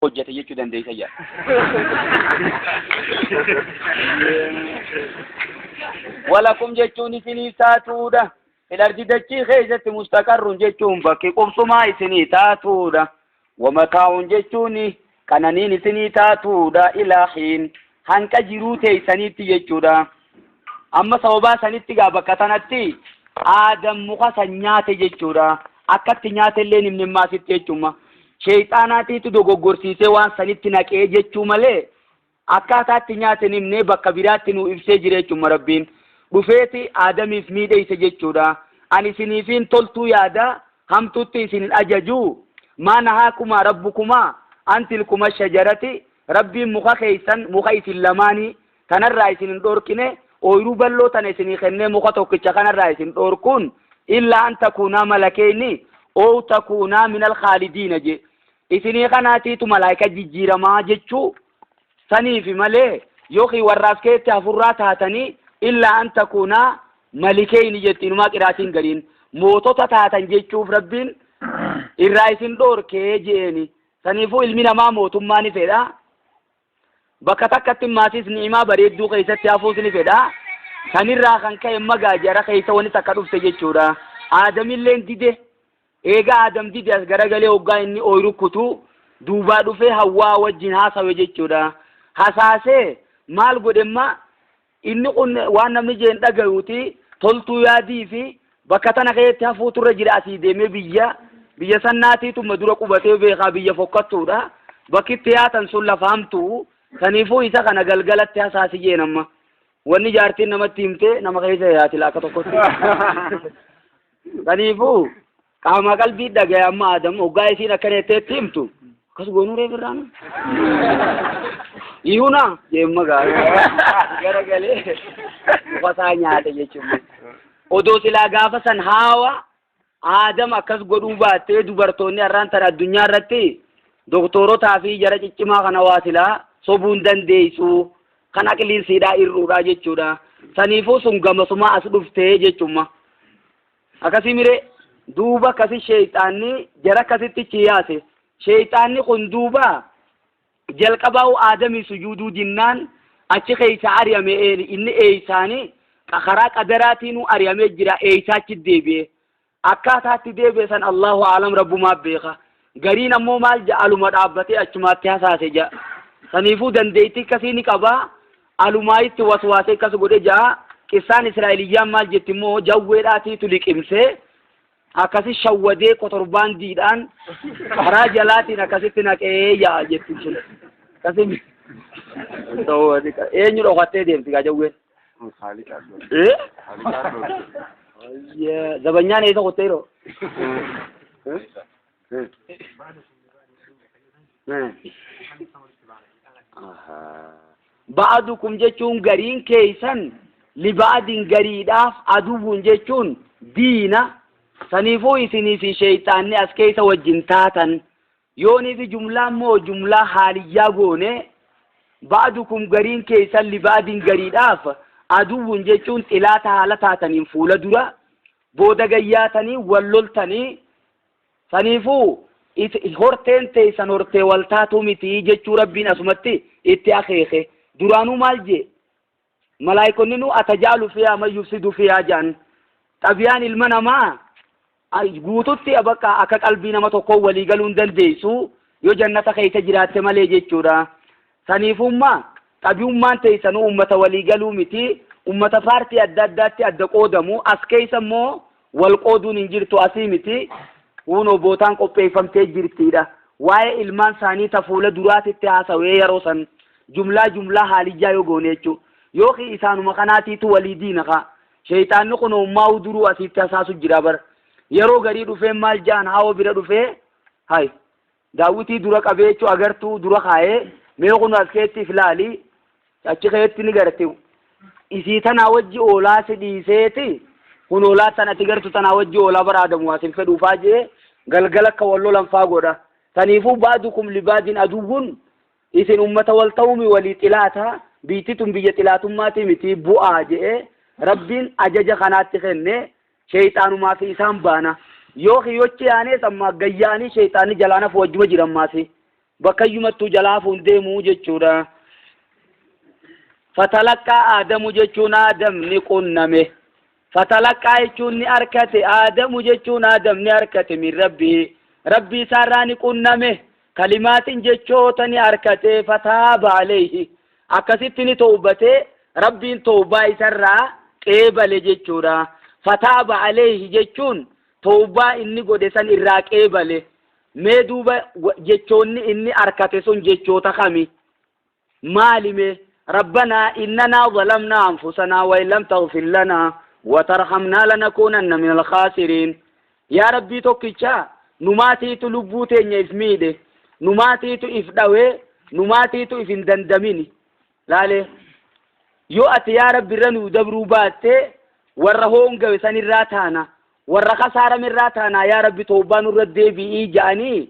hojjete jechuu dandeessa jedha. Walakum jechuun isiniif taatuudha. Ilarji dachii keessatti mustaqarrun jechuun bakki qubsumaa isinii taatuudha. Wamataa'un jechuun qananiin isinii taatuudha ilaahiin hanqa jiruu teeysaniitti jechuudha. Amma sababaa sanitti gaa bakka tanatti aadam muka san nyaate jechuudha. Akkatti nyaate illee nimni maasitti jechuuma. Sheeyxaanaatiitu dogoggorsiisee waan sanitti naqee jechuu malee Akkaataa itti nyaate hin himne, bakka biraatti nuu ibsee jira jechuun Rabbiin. Dhufeeti Aadamiif miidheyse jechuudha. Ani isiniifiin toltuu yaada, hamtuutti isin hin ajaju. Maa nahaakumaa Rabbukumaa an tilkuma shajarati, Rabbiin muka keeysan, muka isin lamaanii, tanarraa isin hin dhoorkine, ooyruu bal'oo tana isinii kennee muka tokkicha kanarraa isin dhoorkuun, illaa an takuunaa malakeyni, ow takuunaa minal khaalidiina jee. Isinii kanaatiitu malaayika jijjiiramaa jechuu saniifi malee yookiin warraas keetti hafurraa taatanii illaa an takuunaa malikeeyni jetti inumaa qiraatiin gariin mootota taatan jechuuf rabbiin irraa isin dhoorkee je'eeni saniifuu ilmi namaa mootummaa ni fedha bakka takkatti maasiis ni'imaa bareedduu keessatti hafuus ni fedha sanirraa kan ka'e magaa jara keessa wani takka dhufte jechuudha aadamilleen dide Eega Aadam dide as garagalee hoggaa inni ooyruu kutu, duubaa dhufee Hawwa'aa wajjiin haasawe jechuu dha. Hasaasee, maal godhe amma? Inni kun waan namni jeen dhagayuu ti, toltuu yaadii fi bakka tana keessatti hafuu tu irra jira asii deemee biyya, biyya sannaatii tu ma dura qubatee beekaa biyya fokkattuu dha, bakki itti yaatan sun lafa hamtu'u, saniifuu isa kana galgalatti hasaasi jeen amma. Wanni jaartiin namatti himte nama keessa yaati laakka tokkotti. Kaniifuu qaamaa qalbii dhagaye amma Adam hoggaa isiin akkana jetteetti himtu akkas goonuu reef irraan. Iyyuuna deemma gaarii gara galee ufasaa nyaate jechuun. Odoo silaa gaafa san haawa Adam akkas godhuu baattee dubartoonni har'aan tan addunyaa irratti doktorotaa fi jara ciccimaa kana waa silaa sobuun dandeessu Kan aqliin siidhaa ir'uudhaa jechuudha. Saniifuu sun gamasumaa as dhuftee jechumma. Akkasii miree duuba akkasi sheeyxaanni jara akkasitti chi yaase. Sheeyxaanni kun duuba jalqabaa'u aadamii sujuuduu dinnaan achi keeysa ari'ame inni eeysaani karaa qadaraatiin ari'amee jira eeysaachi deebi'e. Akkaataa itti deebi'e san Allaahu a'lam Rabbumaa beeka. Gariin ammoo maal ja'a aluma dhaabbatee achumaatti hasaase ja'a. Saniifuu dandeettii akkasii ni qaba. Alumaayitti waswaasee akkas godhe ja'a. Qissaan Israa'eliyyaan maal jetti immoo jawweedhaatiitu liqimsee akkasi shawwadee kotorbaandiidhaan karaa jalaatiin akkasitti naqee ja'a jetti sun. Akkasi eenyu dhokattee deemti gaa jawween. Zabanyaan eessa qottee yeroo? Ba'adukum jechuun gariin keessan libaadin gariidhaaf aduwwun jechuun diina saniifuu isinii fi sheeyxaanni as keessa wajjin taatan Yoonii fi jumlaa immoo jumlaa haaliyyaa goonee ba'dukum gariin keessan liba'din gariidhaaf aduwwun jechuun xilaata haala taataniin fuula dura booda gayyaatanii wal loltanii saniifuu horteen teessan hortee wal taatu miti jechuu rabbiin asumatti itti akeeke duraanuu maal jee Malaa'ikonninuu atajaalu fiyaa man yufsidu fiyaa jedhan. Xabiyaan ilma namaa guututti bakka akka qalbii nama tokkoo walii galuu hin dandeessu yoo jannata keessa jiraatte malee jechuudha. Saniifumma xabiyummaan teessanuu ummata walii galuu miti. Ummata paartii adda addaatti adda qoodamu. As keessa immoo Wal qooduun hin jirtu asii miti, kuunoo bootaan qopheeffamtee jirti dha. Waa'ee ilmaan saanii ta fuula duraatitti haasawee yaroo san jumlaa jumlaa haalijjaa yoo goone jechu. Yookiin isaanuma kanaatiitu walii diina kaa. Sheyxaanni kunoo ummaahuu duruu asiitti hasaasu jira bar. Yaroo garii dhufee maal ja'an hawa bira dhufee hay Daawwitii dura qabeechuu agartuu dura kaayee, mee kunoo as keetti if laali, achi keetti ni garte, isii tanaa wajji oolaa si dhiiseeti, kun oolaa tan ati gartu tanaa wajji oolaa bar Aadamu waa sin fedhuu faa je'ee, galgala akka wal lolan faa godha. Taniifuu ba'dukum li ba'din aduwwun, isin ummata wal ta'uumi walii xilaata, biyti tun biyya xilaatummaati miti, bu'aa je'ee, Rabbiin ajaja kanaatti kenne, Sheyxaanumaa fi isaan baana. Yoo kiyyochi yaanees ammaa gad yaa'anii sheyxaanni jalaan hafu wajjuma jira ammaasi. Bakkayyumattuu jalaa hafu hin deemu jechuudha. Fatalaqqaa Aadamu jechuun Aadam ni qunname. Fatalaqqaa jechuun ni arkate. Aadamu jechuun Aadam ni arkate min rabbii. Rabbii isaarraa ni qunname. Kalimaatiin jechoota ni arkate. Fataaba aleeyhi. Akkasitti ni tawbate, Rabbiin tawbaa isarraa qeebale jechuudha. Fataaba aleyhi jechuun tawbaa inni godhe san irraa qeebale. Mee duuba jechoonni inni arkate sun jechoota kami? Maali mee? Rabbanaa innanaa zalamnaa anfusanaa wa in lam taghfir lanaa wa tarhamnaa lanakuunanna minal khaasiriin. Yaa Rabbii tokkicha, numaatiitu lubbuu teenya if miidhe, numaatiitu if dhawee, numaatiitu if hin dandamini. Laale, yoo ati yaa Rabbi irra nuu dabruu baatte, warra hoongawe san irraa taana, warra kasaarame irraa taanaa yaa Rabbi towbaa nurra deebi'ii ja'anii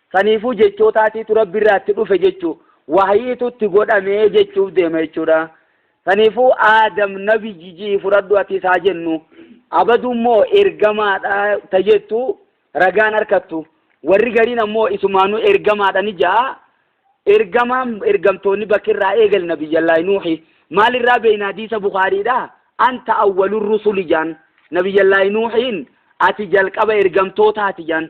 Saniifuu jechootaatiitu Rabbi irraa itti dhufe jechuu, wahyiitu itti godhame jechuuf deema jechuudha. Saniifuu Aadam nabi jijii fudhadhu atis haa jennu. Abadu immoo ergamaadha ta jettu ragaan harkattu. Warri gariin ammoo isumaanuu ergamaadha ni ja'a. Ergamaan ergamtoonni bakki irraa eegal nabiyyallaahi Nuuhi. Maal irraa beeyna hadiisa Bukhaariidha? Anta awwalur rusuli jaan. Nabiyyallaahi Nuuhiin ati jalqaba ergamtootaati jaan.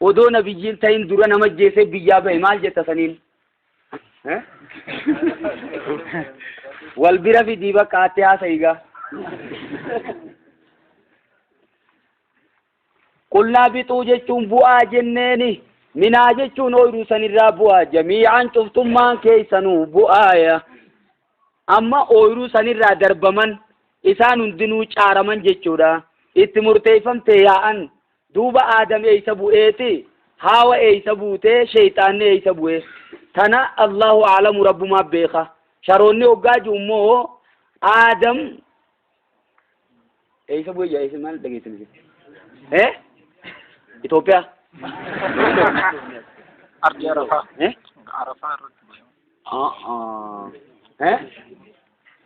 Odoo nabiyyii hin tahin dura nama ajjeesee biyyaa bahe maal jetta saniin? Wal bira fidii bakka atti haasa'i gaa. Qulnaa bixuu jechuun bu'aa jenneeni. Minaa jechuun ooyiruu sanirraa bu'aa jamii'aan cuftummaan keessanuu bu'aaya. Amma ooyiruu sanirraa darbaman isaan hundinuu caaraman jechuudha. Itti murteeffamte yaa'an Duuba Aadam eeysa bu'ee ti? Haawa eeysa buute? Sheyxaanni eeysa bu'e? Tana Allaahu A'lamu Rabbumaa beekha. Sharoonni hoggaa ji'u immoo Aadam eeysa bu'e jedha eeysa maal dhageessan jetti? Eh? Itoophiyaa? Ardii Arafaa. Eh? Arafaa irratti. Ah, ah. Eh?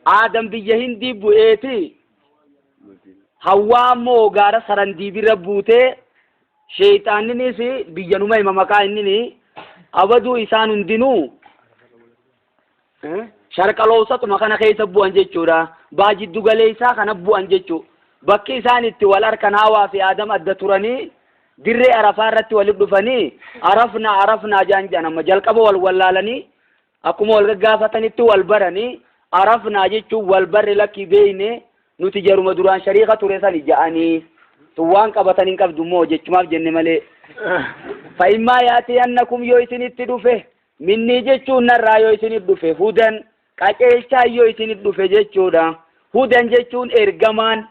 Aadam biyya Hindii bu'eeti Hawwaa ammoo gaara Sarandii bira buutee sheeyxaanninis biyyanuma hima maqaa innini abaduu isaan hundinuu sharqaloowsatuma kana keessa bu'an jechuudha. Baa jiddu galeessaa kana bu'an jechuu. Bakki isaan itti wal harkan Hawaa fi Aadam adda turanii dirree Arafaa irratti walitti dhufanii Arafnaa Arafnaa jaan jaan amma jalqaba wal wallaalanii Akkuma wal gaggaafatanitti wal barani, arafnaa jechuun wal barre lakkii beeyne nuti jaruma duraan shariika ture sani ja'anii. Tun waan qabatan hin qabdu moo jechumaaf jenne malee. Fa'immaa yaatiyannakum yoo isinitti dhufe minnii jechuun narraa yoo isinit dhufe hudan qaceelchaan yoo isinit dhufe jechuudha. Hudan jechuun ergamaan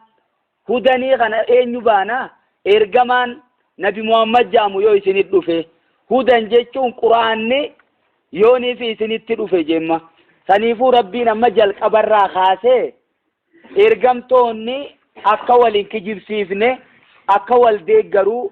Hudanii kana eenyu baana? Ergamaan nabi Muhammad ja'amu yoo isinit dhufe. Hudan jechuun qur'aanni yoonii fi isinitti dhufe jemma. Saniifuu Rabbiin amma jalqabarraa kaasee ergamtoonni akka wal hin kijibsiifne, akka wal deeggaru,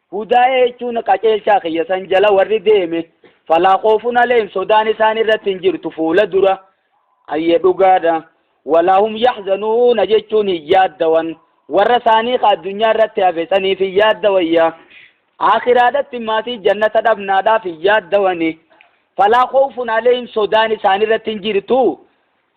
Hudaaya jechuun qaceelchaa kiyya san jala warri deeme falaa khoofun aleyhim sodaan isaan irratti hin jirtu fuula dura ayye dhugaadha walaa hum yaxzanuuna jechuun hin yaaddawan warra isaanii ka addunyaa irratti hafe saniif hin yaaddawayya aakiraadhatti maatii jannata dhabnaadhaaf hin yaaddawani falaa khoofun aleyhim sodaan isaan irratti hin jirtu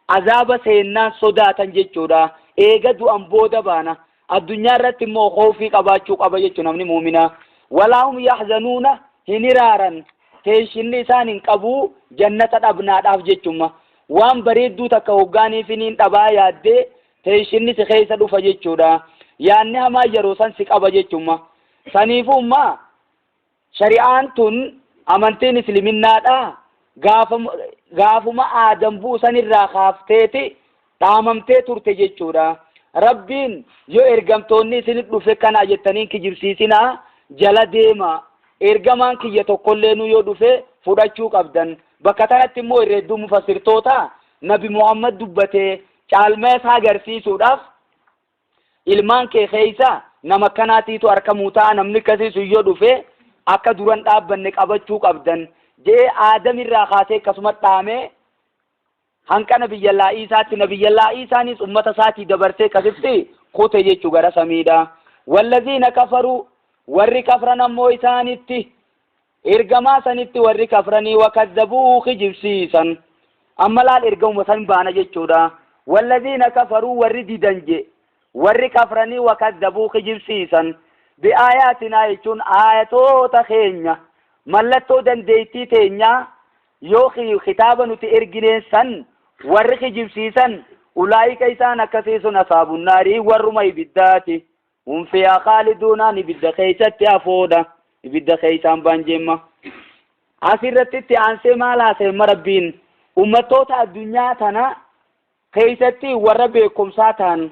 Azaaba seennaan sodaatan jechuudha. Eega du'an booda baana. Addunyaa irratti immoo khawfii qabaachuu qaba jechu namni mu'minaa. Walaa hum yahzanuuna hin hiraaran. Teenshinni isaan hin qabu jannata dhabnaadhaaf jechumma. Waan bareedduu takka hoggaaniifi niin dhabaa yaaddee teenshinni si keessa dhufa jechuudha. Yaanni hamaan yeroo san si qaba jechumma. Saniifuu ummaa Shari'aan tun, amantiin Isliminnaadhaa, gaafam, gaafuma Aadam bu'u sanirraa kaafteeti dhaamamtee turte jechuudha. Rabbiin, yoo ergamtoonni isinit dhufe kana jettanii hin kijibsiisinaa, jala deemaa. Ergamaan kiyya tokkolleenuu yoo dhufe fudhachuu qabdan. Bakka tanatti immoo irra hedduun mufassirtootaa, Nabi Muhammad dubbatee caalmaya isaa garsiisuudhaaf Ilmaan kee keessaa nama akkanaatiitu arkamuu ta'a namni akkasii sun yoo dhufe akka duran dhaabbanne qabachuu qabdan jee aadam irraa kaasee akkasuma dhaamee hanqana biyyallaa Iisaatti nabiyyallaa Iisaanis ummata isaatii dabarsee akkasitti kute jechuu gara samiidha. Wallaziina kafaruu warri kafran ammoo isaanitti Ergamaa sanitti warri kafranii wa kazzabuuhu kijibsiisan. Amma laal ergamuma san baana jechuudha. Wallaziina kafaruu warri didan je, warri kafranii wa kazzabuu kijibsiisan. Bi aayaatinaa jechuun aayatoota keenya, mallattoo dandeettii teenyaa yookiin kitaaba nuti ergineen san warri kijibsiisan, ulaa'ika isaan akkasii sun ashaabun naari warruma ibiddaati. Hum fiihaa khaaliduunaan ibidda keessatti hafoodha. Ibidda keessaan ba'an jemma. Asirratti itti aansee maal haasa'emma Rabbiin? Ummattoota addunyaa tana keessatti warra beekumsaa ta'an,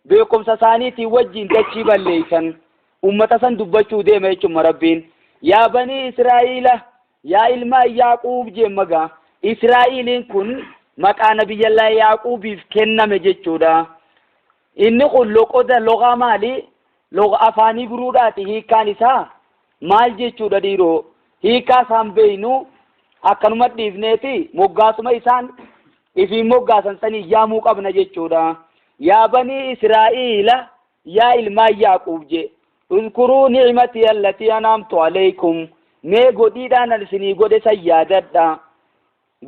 beekumsa isaaniitiin wajjin dachii balleessan, ummata san dubbachuu deema jechuudha Rabbiin. Yaa banii Israa'iila, yaa ilmaan Yaaquub jemma gaa. Israa'iiliin kun maqaa nabiyyallaa Yaaquubiif kenname jechuudha. Inni kun loqoda loghaa maali? Logha afaan Ibruudhaati hiikkaan isaa maal jechuudha dhiiroo? Hiikkaa isaa hin beeknu akkanuma dhiifneeti moggaasuma isaan ifiin moggaasan saniin yaamuu qabna jechuudha. Yaa banii Israa'iila yaa ilmaan Yaaquub jee uzkuruu ni'matii allatii anaamtu alaykum mee godhiidhaan an isinii godhe san yaadadha.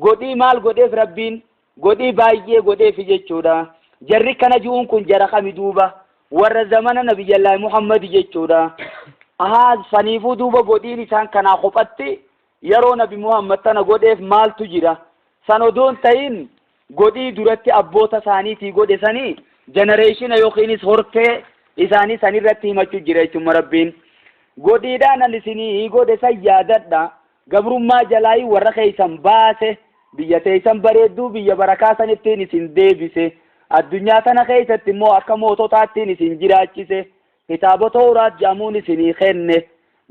Godhii maal godheef rabbiin godhii baay'ee godheefi jechuudha jarri kana ju'uun kun jara kami duuba warra zamana nabiyyallaahi muhammadi jechuudha ahaa saniifuu duuba godhiin isaan kanaa kophatti yaroo nabi muhammad tana godheef maaltu jira san odoo hin tahin godhii duratti abboota isaaniitii godhe sani jenereeshina yookiinis hortee isaanii sanirratti himachu jira jechuun marabbiin godhiidhaan an isinii godhe san yaadadha Gabrummaa jalaayi warra keessan baase, biyya teessan bareedduu biyya barakaa sanittiin isin deebise, addunyaa tana keessatti immoo akka moototaattiin isin jiraachise, kitaaba Towraat jedhamuun isinii kenne,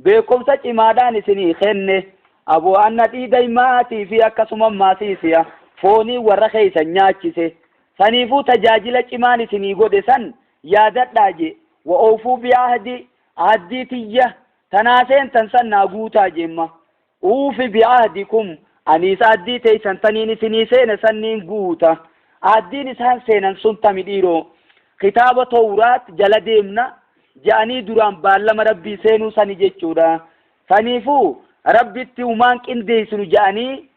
beekkomsa cimaadhaan isinii kenne, aboo annadhii dayma'aatii fi akkasuma maasiisiya foonii warra keessan nyaachise, saniifuu tajaajila cimaan isinii godhe san yaadadhaa je, wa oofuu bi ahdi, ahaddii tiyya, Tanaa seentan san naa guutaa jemma. Uufi bi'ahdikum, aniis ahdii teeysan taniin isinii seene san niin guuta. Ahdiin isaan seenan sun tami dhiiroo? Kitaaba Towraat jala deemna je'anii duraan baallama Rabbii seenuu sani jechuudha. Saniifuu Rabbitti humaan qindeeysinu je'anii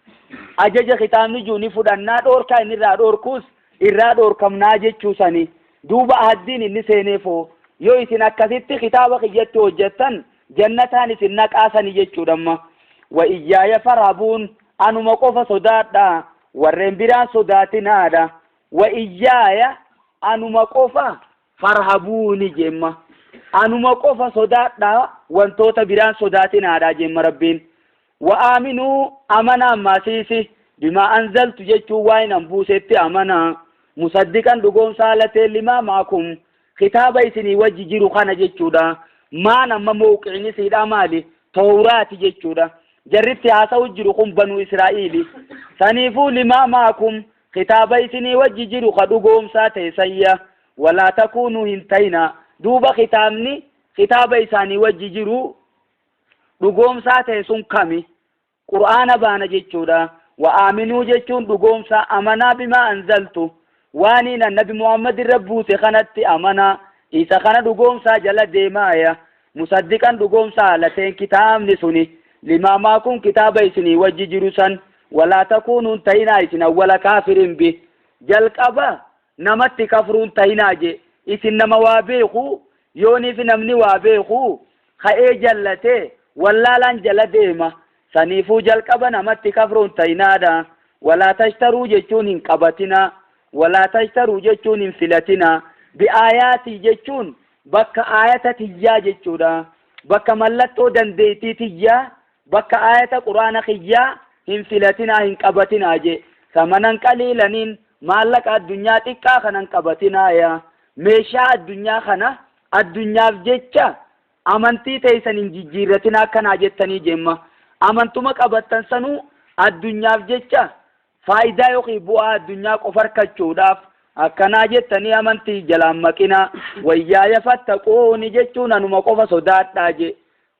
ajaja kitaabni ji'u ni fudhannaa, dhoorkaa inni irraa dhoorkuus irraa dhoorkamnaa jechuu sani. Duuba ahaddiin inni seeneef hoo? Yoo isin akkasitti kitaaba kiyyatti hojjattan jannataan isin naqaa sani jechuudha amma. Wa iyyaaya farhabuun, anuma qofa sodaadhaa, warreen biraan sodaatinaadha. Wa iyyaaya, anuma qofa, farhabuuni jeemma. Anuma qofa sodaadhaa, wantoota biraan sodaatinaadha jeemma Rabbiin. Wa aaminuu, amanaa, Masiisi, bimaa anzaltu jechuun waa'een an buusetti amanaa, musaddiqan dhugoomsaa haala ta'een limaa ma'akum, kitaaba isinii wajji jiru kana jechuudha. Maan amma mowqi'in isiidhaa maali? Towraati jechuudha. Jarri itti haasa'u jiru kun Banuu Israa'iili. Saniifuu limaa ma'akum, kitaaba isinii wajji jiru ka dhugoomsaa ta'e sanya. Wa laa takuunuu hin ta'inaa. Duuba kitaabni kitaaba isaanii wajji jiru dhugoomsaa ta'e sun kami? Qur'aana baana jechuudha. Wa aaminuu jechuun dhugoomsaa amanaa bimaa anzaltu waaniin an nabi Muhammad irra buuse kanatti amanaa isa kana dhugoomsaa jala deemaaya musaddiqan dhugoomsaa haala ta'een kitaabni suni limaa maakum kitaaba isinii wajji jiru san walaa takuunuun ta'inaa isin awwala kaafiriin bi jalqaba namatti kafruu hin tahinaa jee isin nama waa beekuu yooniifi namni waa beekuu ka'ee jallatee wallaalaan jala deema saniifuu jalqaba namatti kafruu hin tahinaadha walaa tashtaruu jechuun hin qabatinaa walaa tashtaruu jechuun hin filatinaa bi'aayaatii jechuun bakka aayata tiyyaa jechuudha bakka mallattoo dandeeytii tiyyaa Bakka aayata qur'aana kiyyaa hin filatinaa hin qabatinaa jee samanan qaliilaniin maallaqa addunyaa xiqqaa kana hin qabatinaa yaa meeshaa addunyaa kana addunyaaf jecha amantii teeysan hin jijjiirratinaa akkanaa jettanii jemma amantuma qabattan sanuu addunyaaf jecha faayidaa yookiin bu'aa addunyaa qofa harkachuudhaaf akkanaa jettanii amantii jalaan maqinaa wayyaaya fattaquuni jechuun anuma qofa sodaadhaa jee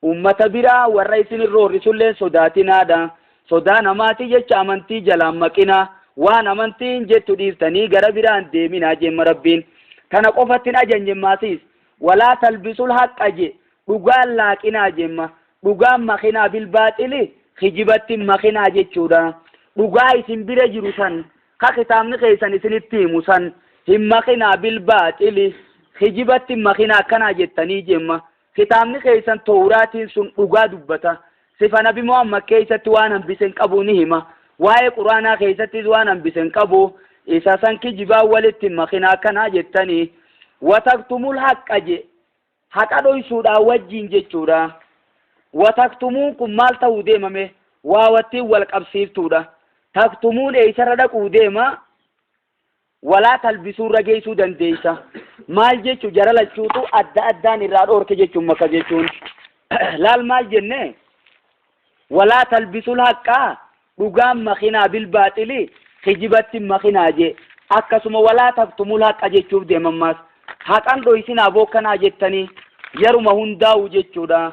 Uummata biraa warra isin hin roorrisulleen sodaatinaadha. Sodaa namaatii jecha amantii jalaa hin maqinaa. Waan amantiin jettu dhiiftanii gara biraa hin deeminaa jeemma Rabbiin. Tana qofatti hin ajajnemmaa siis. Walaa talbisul haqqa je, dhugaa hin laaqinaa jeemma. Dhugaan makinaa bilbaaxili, kijibatti hin makinaa jechuudha. Dhugaa isin bira jiru san, ka kitaabni keessan isinitti himu san, hin makinaa bilbaaxili, kijibatti hin makinaa akkanaa jettanii jeemma. Kitaabni keessan Towraatiin sun dhugaa dubbata. Sifa Nabi Muhammad keessatti waan hambise hin qabu ni hima. Waa'ee Qur'aanaa keessattis waan hambise hin qabu. Isa san kijibaan walitti hin makinaa akkanaa jettanii. Wataktumul haqqa je. Haqa dhoysuudhaa wajjiin jechuudha. Wataktumuun kun maal ta'uu deemame? Waawattiin wal qabsiiftuudha. Taktumuun eeysarra dhaquu deema? walaa talbisuurra geessuu dandeessa. Maal jechu jara lachuutu adda addaan irraa dhoorke jechuun maka jechuun. Laal maal jenne walaa talbisul haqqaa dhugaan makinaa bilbaaxili kijibatti makinaa jee akkasuma walaa taktumul haqa jechuuf deemammaas haqan dhoysinaa bookkanaa jettanii yaruma hundaa'u jechuudha.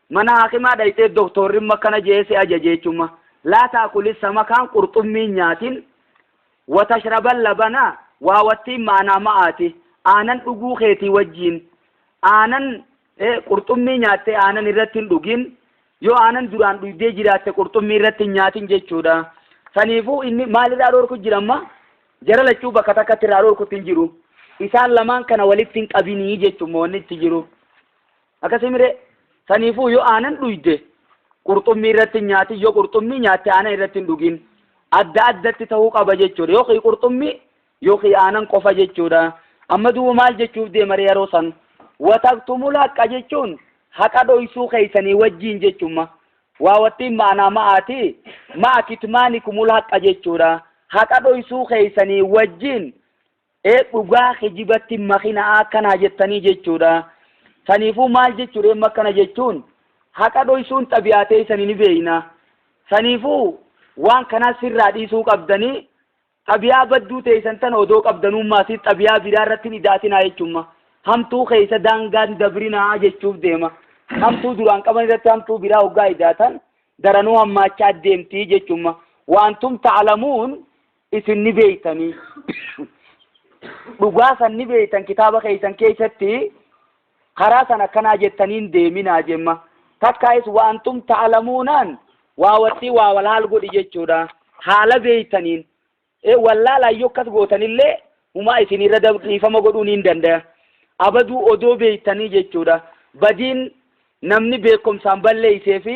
Mana haakimaa dhayxee doktoorrimma akkana je'ee si ajajeechumma, Laa ta'kuli samakaan qurxummii hin nyaatin, wa tashrabal labana waa wattiin ma'anaa ma'aati, aanan dhuguu keetii wajjiin, aanan, e, qurxummii nyaattee aanan irratti hin dhugin, yoo aanan duraan dhuydee jiraatte qurxummii irratti hin nyaatin jechuudha. Saniifuu inni maal irraa dhoorku jira amma? Jara lachuu bakka takkatti irraa dhoorkutti hin jiru. Isaan lamaan kana walitti hin qabinii jechuun wanni itti jiru. Akkasii miree saniifuu yoo aanan dhuyde qurxummii irratti hin nyaatin yoo qurxummii nyaatte aanan irratti hin dhugin adda addatti ta'uu qaba jechuudha yookiin qurxummii yookiin aanan qofa jechuudha amma duuba maal jechuuf deemare yeroo san wataktumul haqqa jechuun haqa dhoysuu keeysanii wajjiin jechumma waa wattiin ma'anaa ma'aati ma'a kitmaanikumul haqqa jechuudha haqa dhoysuu keeysanii wajjiin Ee dhugaa kijibatti makina'aa akkanaa jettanii jechuudha. Saniifuu maal jechuudha emma akkana jechuun haqa dhoysuun xabi'aa teeysani ni beeyna. Saniifuu waan kanaa sirraa dhiisuu qabdanii xabi'aa badduu teeysan tana odoo qabdanuu maasii xabi'aa biraa irratti hin ida'atinaa jechumma. Hamtuu keeysa daangaa hin dabrinaa jechuuf deema. Hamtuu duraan qaban irratti hamtuu biraa hoggaa ida'atan daranuu hammaachaa deemtii jechumma. Wa antum ta'lamuun isin ni beeytanii dhugaa san ni beeytan kitaaba keeysan keeysatti karaa san akkanaa jettaniin deeminaa jemma takkaayis waantum ta'alamuunaan waa wattii waa walaal godhi jechuudha haala beeytaniin e wallaalaan yoo akkas gootanillee humaa isin irra dhiifama godhuu niin dandaya abaduu odoo beeytanii jechuudha badiin namni beekumsaan balleeysee fi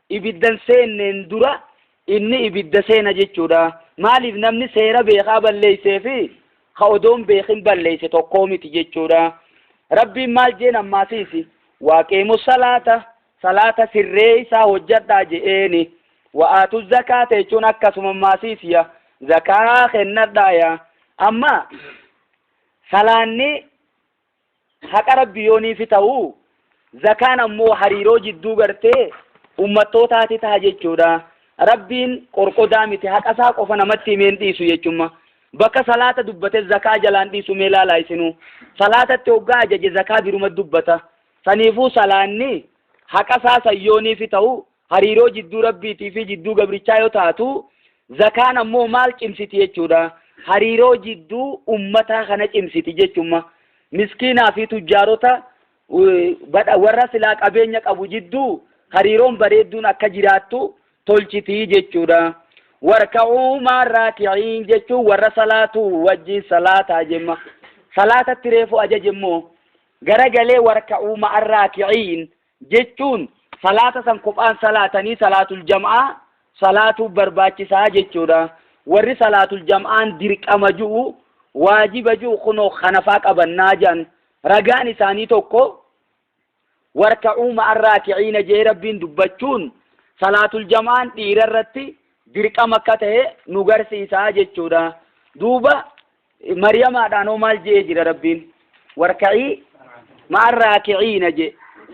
ibidda hin seenneen dura inni ibidda seena jechuudha. Maaliif namni seera beekaa balleessee fi ka odoo hin beekin balleesse tokkoo miti jechuudha. Rabbiin maal jeen ammaasiisi? Waaqiimu salaata, salaata sirreessaa hojjadhaa je'eeni. Wa'aatu zakaata jechuun akkasuma ammaasiisiya zakaa kennadhaaya. Amma salaanni haqa rabbi yoo niifi ta'u zakaan ammoo hariiroo jidduu gartee ummattootaati taha jechuudha rabbiin qorqodaa miti haqa isaa qofa namatti himeen dhiisu jechumma bakka salaata dubbate zakaa jalaan dhiisu mee laalaa isinu salaatatti hoggaa ajaje zakaa biruma dubbata saniifuu salaanni haqa isaa sayyooniifi ta'u hariiroo jidduu Rabbiitii fi jidduu gabrichaa yoo taatu, zakaan ammoo maal cimsiti jechuudha? Hariiroo jidduu ummataa kana cimsiti jechumma. Miskiinaa fi tujjaarota warra silaa qabeenya qabu jidduu hariiroon bareedduun akka jiraattu tolchiti jechuudha. Warka'uu maal raakiciin jechuun warra salaatu wajjin salaataa jemma. Salaatatti reefu ajaje immoo garagalee warka'uu maal raakiciin jechuun salaata san kophaan salaatanii salaatul jam'aa salaatuu barbaachisaa jechuudha. Warri salaatul jam'aan dirqama ju'u waajiba ju'u kunoo kanafaa qabannaa jedhan ragaan isaanii tokko warka'uu ma'arraa kiciina jee rabbiin dubbachuun salaatul jam'aan dhiira irratti dirqama akka ta'e nu garsiisaa jechuudha. Duuba Mariyamaadhaan hoo maal je'ee jira Rabbiin? Warka'ii ma'an raaki'iina je.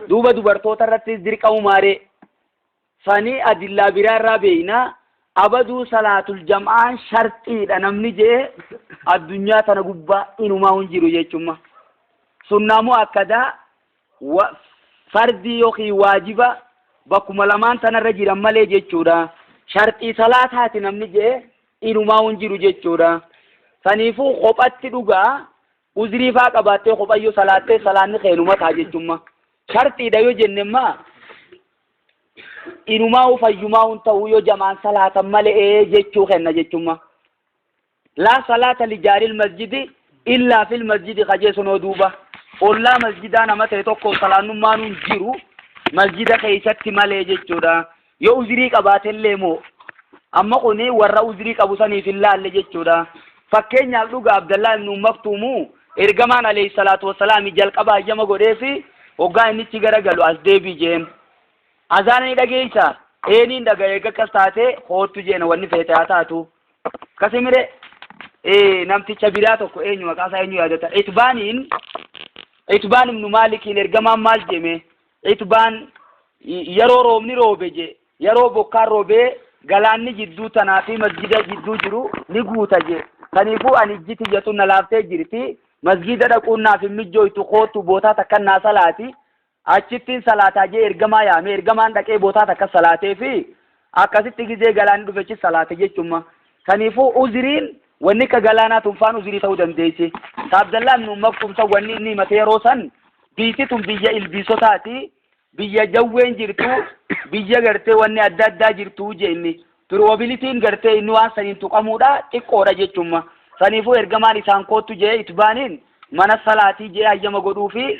Duuba dubartoota irrattis dirqamumaa ree? Sanii adillaa biraa irraa beeynaa abaduu salaatul jam'aan sharxiidha namni je'e addunyaa tana gubbaa inumaa hin jiru jechumma. Sunnaa moo akkadaa wa- fardii yookiin waajiba bakkuma lamaan tanarra jiran malee jechuudha. Sharxii salaataati namni je'e inumaa hin jiru jechuudha. Saniifuu kophatti dhugaa uzrii faa qabaattee kophayyoo salaattee salaanni keenuma ta'a jechumma. Sharxiidha yoo jenne maa inumaa fayyumaa hin ta'u yoo jamaan salaatan malee jechuu kenna jechumma. Laa salaata lijaaril masjidi illaa fil masjidi kajeessunoo duuba. Ollaa masjidaa nama ta'e tokko salaannummaan hin jiru masjida keessatti malee jechuudha. Yoo uzrii qabaatellee moo amma kuni warra uzrii qabu saniif hin laalle jechuudha. Fakkeenyaaf dhuga Abdallaa ibnu Maktuumu ergamaan alayhi salaatu wassalaami jalqaba hayyama godheefi hoggaa innichi gara galu as deebii jeen. Azaana ni dhageeysa eeniin dhaga eega akkas taate hoottu jeena wanni feete haa taatu. Kasimire namticha biraa tokko eenyu maqaa isaa eenyu yaadata. Itbaaniin Itbaan ibnu Maalikiin ergamaan maal jeemee? Itbaan yeroo roobni roobe je yeroo bokkaan roobee galaanni jidduu tanaa fi masjida jidduu jiru ni guuta je kaniifuu ani ijji tiyya tun na laaftee jirti masjida dhaquun naaf hin mijjooytu koottu bootaa takkan naa salaati achittiin salaataa jee ergamaa yaame ergamaan dhaqee bootaa takka salaatee fi Akkasitti gizee galaanni dhufechis salaate jechumma. Saniifuu uziriin wanni akka galaanaa tun faan uzirii ta'uu dandeessi. Ka Abdallaa ibnu Maktuum san wanni inni himate yeroo san biitti tun biyya ilbiisotaati, biyya jawween jirtu, biyya gartee wanni adda addaa jirtu je inni. Piroobilitiin gartee inni waan saniin tuqamuudha xiqqoodha jechumma. Saniifuu ergamaan isaan koottu jee itbaaniin mana salaatii jee hayyama godhuufi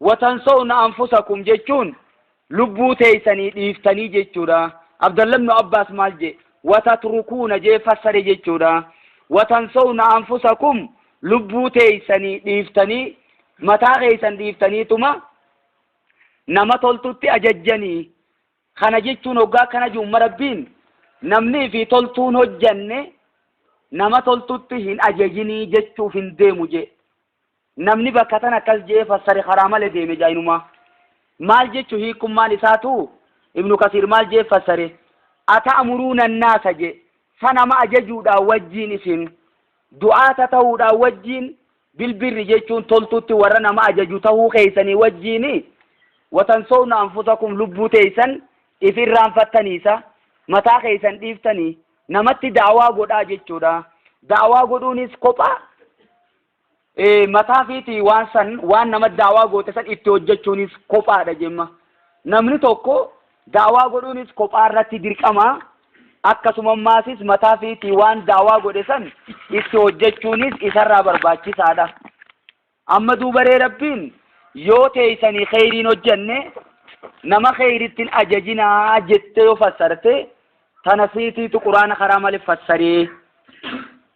watansawna anfusakum jechuun lubbuu teeysanii dhiiftanii jechuudha abdalla ibnu abbaas maal jee watatrukuuna jee fassare jechuudha watansawna anfusakum lubbuu teeysanii dhiiftanii mataa keeysan dhiiftaniituma nama toltutti ajajjanii kana jechuun hoggaa akkana jiumma rabbiin namni fi toltuun hojjanne nama toltutti hin ajajinii jechuuf hin deemu jee Namni bakka tana akkas je'ee fassare karaa male deeme jainumaa. Maal jechu hiikkummaan isaa tu? Ibnu Kasiir maal je'ee fassare? Ata'muruuna annaasa je'e. Sa nama ajajuudhaa wajjiin isin du'aata tahuudhaa wajjiin bilbirri jechuun toltutti warra nama ajaju tahuu keeysanii wajjiini? Watansowna anfusakum lubbuu teeysan if irraanfattanii sa? Mataa keeysan dhiiftanii namatti da'awaa godhaa jechuudha. Da'awaa godhuunis kophaa Ee, mataa fiiti waan san waan nama daawaa goote san itti hojjechuunis kophaadha jemma. Namni tokko daawaa godhuunis kophaa irratti dirqama akkasuma maasis mataa fiiti waan daawaa godhe san itti hojjechuunis isarraa barbaachisaadha. Amma duubaree rabbiin yoo teeysanii kheyriin hojjenne nama kheyrittin ajajinaa jette yoo fassarte tana fiitiitu quraana karaa male fassaree.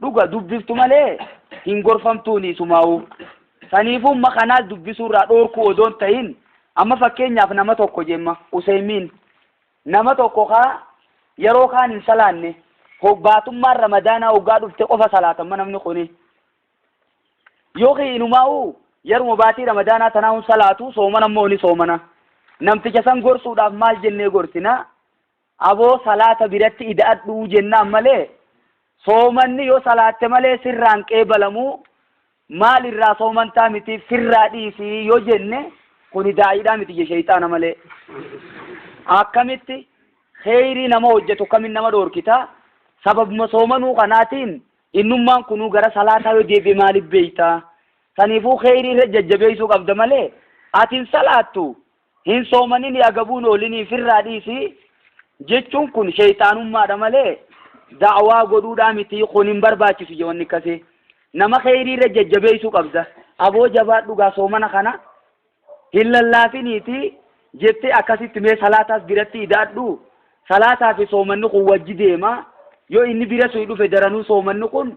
Dhuga dubbiftu malee hin gorfamtuuni isumaa'uu. Saniifuu umma kanaas dubbisuurraa dhoorkuu odoo hin tahin amma fakkeenyaaf nama tokko jemma Useymiin nama tokko kaa yeroo kaan hin salaanne ho- baatummaan ramadaanaa hoggaa dhufte qofa salaatamma namni kuni. Yookiin inumaa'uu yeruma baatii ramadaanaa tanaa hun salaatu soomana immoo ni soomana. Namticha san gorsuudhaaf maal jennee gorsinaa? Aboo salaata biratti ida'adhu jennaan malee soomanni yoo salaatte malee sirraa hin qeebalamuu maal irraa soomantaa mitiif sirraa dhiisi yoo jenne kuni daa'iidhaa miti je sheyxaana malee akkamitti kheyrii nama hojjetu kamin nama dhoorkita sababuma soomanuu kanaatiin innummaan kunuu gara salaataa yoo deebi'e maaliif beeyta saniifuu kheyrii irra jajjabeeysuu qabda malee ati hin salaattu Hin soomaninii agabuun oolinii ifirraa dhiisi jechuun kun sheyxaanummaadha malee da'awaa godhuudhaa miti kun hin barbaachisu je wanni akkasii nama kheyriirra jajjabeeysuu qabda aboo jabaadhu gaa soomana kana hin lallaafiniiti jettee akkasitti mee salaataas biratti ida'adhu salaataa fi soomanni kun wajji deema yoo inni bira suyi dhufe daranuu soomanni kun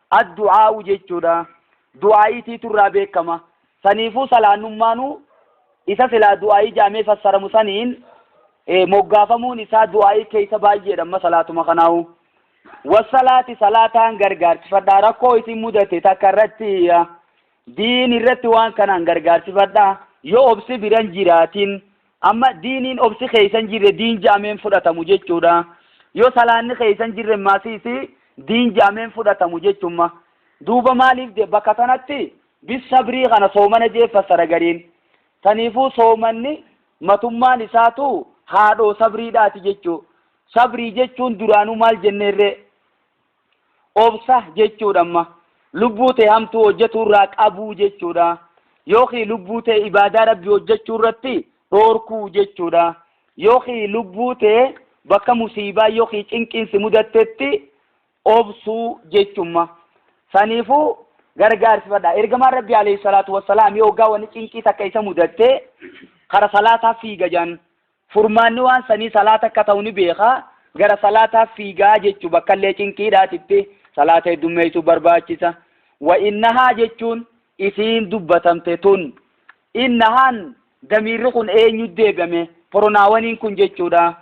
Addu'aa'u jechuudha. Du'aa'iitiitu irraa beekkama. Saniifuu salaannummaanuu isa silaa du'aa'ii ja'amee fassaramu saniin moggaafamuun isaa du'aa'ii keeysa baay'eedha amma salaatuma kanaahu. Wassalaati salaataan gargaarsifadha rakkoo isin mudate takka irratti diin irratti waan kanaan gargaarsifadha yoo obsi biran jiraatin Amma diiniin obsi keessan jirre diin ja'amee hin fudhatamu jechuudha. Yoo salaanni keessan jirre immaa siisi diin ja'amee hin fudhatamu jechumma. Duuba maaliif je bakka tanatti bis sabrii kana soomana jee fassara gariin. Taniifuu soomanni matummaan isaatu haadhoo sabriidhaati jechuu. Sabrii jechuun duraanuu maal jenneerree? Obsa jechuudha amma. Lubbuu tee hamtuu hojjatuu irraa qabuu jechuudha. Yookiin lubbuu tee ibaadaa rabbi hojjachuu irratti dhoorkuu jechuudha. Yookiin lubbuu tee bakka musiibaa yookiin cinqiin si mudattetti obsuu jechumma. Saniifuu gargaarsifadha. Ergamaan rabbi alayhi salaatu wassalaam yoo hoggaa wanni cinqii takka isa mudattee kara salaataa fiiga jaan. Furmaanni waan sanii salaata akka ta'u ni beeka, gara salaataa fiiga jechu bakkallee cinqiidhaatitti salaata heddummeeysuu barbaachisa. Wa innahaa jechuun isiin dubbatamte tun. Innahaan damiirri kun eenyutti deebi'ame? Poronaawaniin kun jechuudha.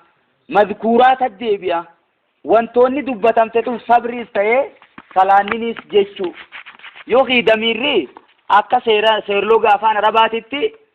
Mazkuuraatatti deebi'a. Wantoonni dubbatamte tun sabriis ta'ee salaanniniis jechu. Yookiin damiirri akka seera seerloga afaan arabaatitti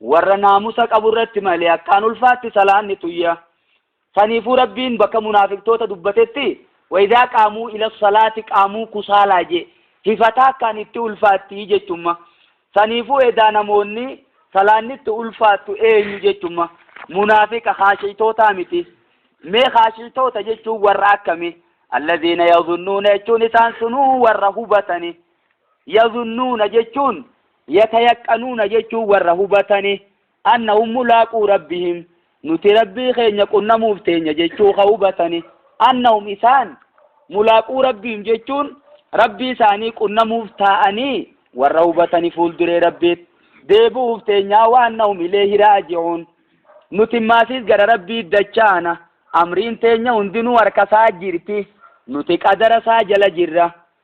Warra naamusa qabu irratti malee akkaan ulfaatti salaanni tuyya. Saniifuu Rabbiin bakka munaafiqtoota dubbatetti, Wa-izaa qaamuu ila-salaati qaamuu kusaalaa je'e. Hifata akkaan itti ulfaatti jechumma. Saniifuu edaa namoonni salaanni itti ulfaattu eenyu jechumma. Munaafiqa, khaashi'toota miti. Mee khaashi'toota jechuun warra akkami? Allaziina yazunnuuna jechuun isaan sunuu warra hubatani. Yazunnuuna jechuun Yatayaqqanuuna jechuun warra hubatani, annahum mulaaquu Rabbihim, nuti Rabbii keenya qunnamuuf teenya jechuu ka hubatani, annahum isaan, mulaaquu Rabbihim jechuun Rabbii isaanii qunnamuuf taa'anii warra hubatani fuulduree Rabbiit deebi'uuf teenyaa wa annahum ileeyhi raaji'uun, nuti maasiis gara Rabbiit dachaana, amriin teenya hundinuu harka isaa jirti, nuti qadara isaa jala jirra,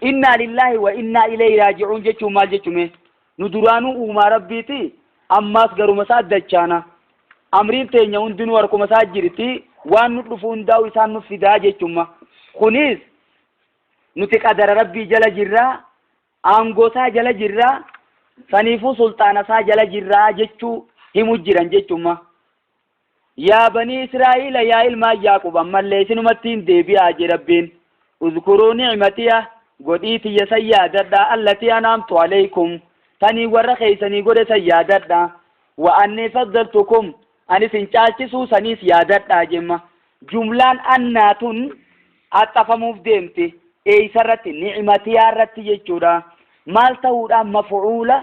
Innaa lillaahi wa innaa ilayhi raaji'uun jechuun maal jechu mee? Nu duraanuu uumaa Rabbiiti, ammaas garuma isaa dachaana. Amriin teenya hundinuu harkuma isaa jirti, waan nu dhufu hundaa'u isaan nuf fidaa jechumma. Kunis nuti qadara Rabbii jala jirra, aangoo isaa jala jirra, saniifuu sulxaana isaa jala jirra jechuu himu jiran jechumma. Yaa banii Israa'iila yaa ilmaan Ya'quub ammallee isinumattiin deebi'aa jee Rabbiin, Uzkuruu ni'imatiya, godhii tiyya san yaadadhaa, allatii an'amtu alaykum, taniin warra keeysanii godhe san yaadadhaa, wa annii faddaltukum, an isin caalchisuu saniis yaadadhaa jemma. Jumlaan annaa tun axxafamuuf deemti, eeysarratti? Ni'imatiyaa irratti jechuudha. Maal tahuudhaan? Maf'uula.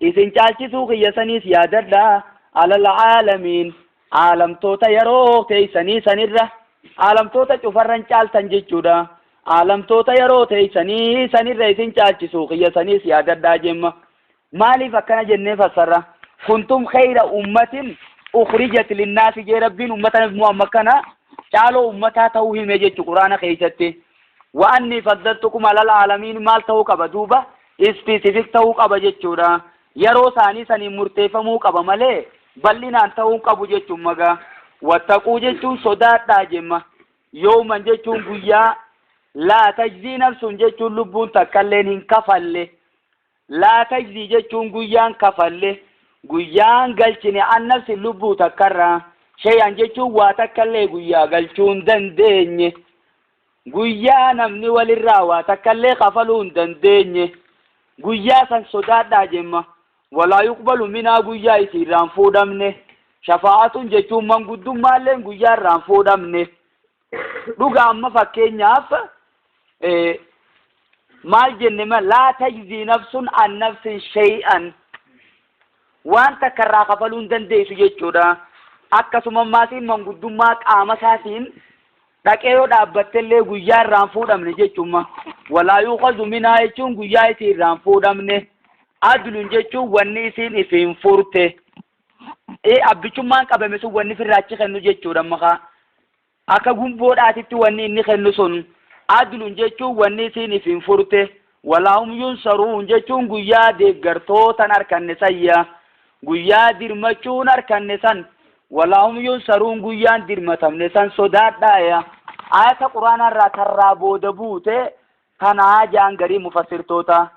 Isin caalchisuu kiyya saniis yaadadhaa, alal aalamiin, aalamtoota yeroo teeysanii sanirra, aalamtoota cufarran caaltan jechuudha, aalamtoota yeroo teeysanii sanirra isin caalchisuu kiyya saniis yaadadhaa jemma. Maaliif akkana jennee fassarra? Kuntum kheyra ummatin ukhrijat linnaasi jee Rabbiin ummata Nabi Muhammad kana caaloo ummataa ta'uu hime jechu Qur'aana keeysatti. Wa annii faddaltukum alal aalamiin maal ta'uu qaba duuba? Specific ta'uu qaba jechuudha. Yaroo isaanii saniin murteeffamuu qaba malee bal'inaan ta'uu hin qabu jechuun maga. Wattaquu jechuun sodaadhaa jemma. Yooman jechuun guyyaa laa tajzii nafsuun jechuun lubbuun takkalleen hin kafalle. Laa tajzii jechuun guyyaan kafalle. Guyyaan galchine an nafsin lubbuu takkarraa. Shayaan jechuun waa takkallee guyyaa galchuun dandeenye. Guyyaa namni walirraa waa takkallee kafaluu hin dandeenye, guyyaa san sodaadhaa jemma. Walaa yuqbalu minhaa guyyaa isii irraa hin fuudhamne. Shafaa'atun jechuun manguddummaalleen guyyaa irraa hin fuudhamne. Dhuga amma fakkeenyaaf maal jenne ma laa tajzii nafsun an nafsin shay'an waan takka irraa kafaluu hin dandeessu jechuudha. Akkasuma maatiin manguddummaa qaama isaatiin dhaqee yoo dhaabbattellee guyyaa irraan fuudhamne jechuudha. Walaa yuukazu minaa jechuun guyyaa isii irraan fuudhamne. Adluun jechuun wanni isiin ifiin furte. Ee abbichummaan qabame sun wanni firraachi kennu jechuudha makaa. Akka gumboodhaatitti wanni inni kennu sun, adlun jechuun wanni isiin ifin furte, walahum yunsaruun jechuun guyyaa deeggartoota hin arkanne sanya, guyyaa dirmachuu hin arkanne san, walahum yunsaruun guyyaa hin dirmatamne san sodaadhaaya. Aayata Qur'aanaa irraa tarraa booda buute Tana ja'an gariin mufassirtootaa.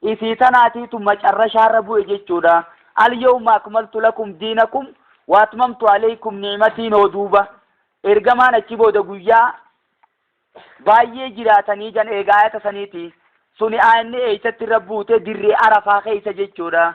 Isii tanaatiitu macarrashaarra bu'e jechuudha. Al-yawma akmaltu lakum diinakum wa atmamtu alaykum ni'matiin hoo duuba? Ergamaan achi booda guyyaa baay'ee jiraatanii jan eega aayata saniiti. Suni aayanni eeysatti irra buute dirree Arafaa keeysa jechuudha.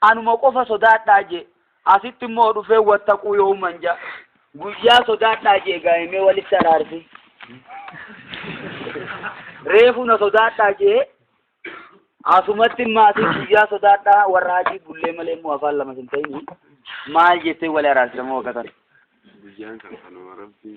Anuma qofa sodaadhaa jee. Asitti immoo dhufee wattaquu yooman ja. Guyyaa sodaadhaa jee gaa'imee walitti araarsi. Reefu na sodaadhaa jee. Asumatti maatii guyyaa sodaadhaa warra hajii bullee malee immoo afaan lama hin ta'in maal jettee wali araarsisamoo wakkatan. Guyyaan kan kanuma rabbii.